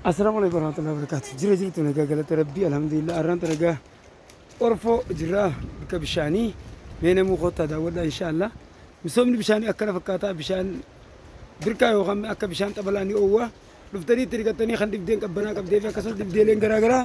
Assalamu alaikum warahmatullahi wabarakatuh. Jira jirtu nagaa galata rabbii alhamdulillah arraan ta nagaa orfoo jirraa bakka bishaanii mee namuu koottaa daawwadhaa inshaallah. Misoomni bishaanii akkana fakkaataa bishaan birkaa yookaan akka bishaan xabalaa ni oowwa. Dhuftanii itti dhiqattanii kan dhibdeen qabbanaa qabdee fi akkasumas dhibdeeleen garaa garaa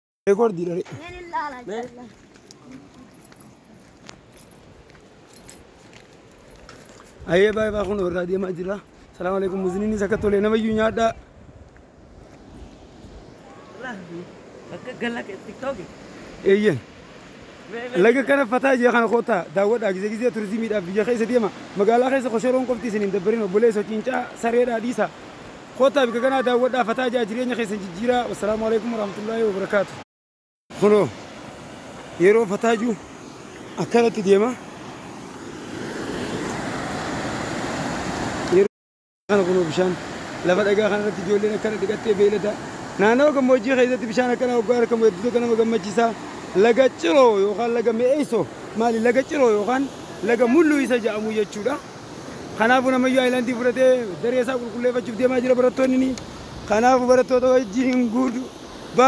Record dira re. Ayee baay'ee baay'ee kun irraa deemaa jira. Salaamu alaikum muziniin isa akka tole nama iyyuu nyaadhaa. Akka gala tiktoki. Eeyyeen. Laga kana fataa jee kana kootaa daawwadhaa gizee gizee turizimiidhaaf biyya keessa deema. Magaalaa keessa koshoroon qofti isin hin dabbarin obboleessa cincaa sareedhaa dhiisa. Kottaa bika kanaa daawwadhaa fataa ja'a jireenya keessan jijjiiraa wassalaamu aleykum warahmatullahi wabarakaatu. Kunoo yeroo fataa jiu akkanatti deema yeroo kana kunoo bishaan lafa dhagaa kana irratti ijoolleen akkana dhiqattee beeylada naannawa gammoojjii keessatti bishaan akkanaa hoggaa argamu hedduu tokko nama gammachiisa laga ciroo yookaan laga mi'eessoo maali laga ciroo yookaan laga mulluu isa ja'amu jechuudha. Kanaafuu namayyuu aayilaandii fudhatee daree isaa qulqulleeffachuuf deemaa jira barattoonni ni. Kanaafuu barattoota wajjin hin guudu. Ba.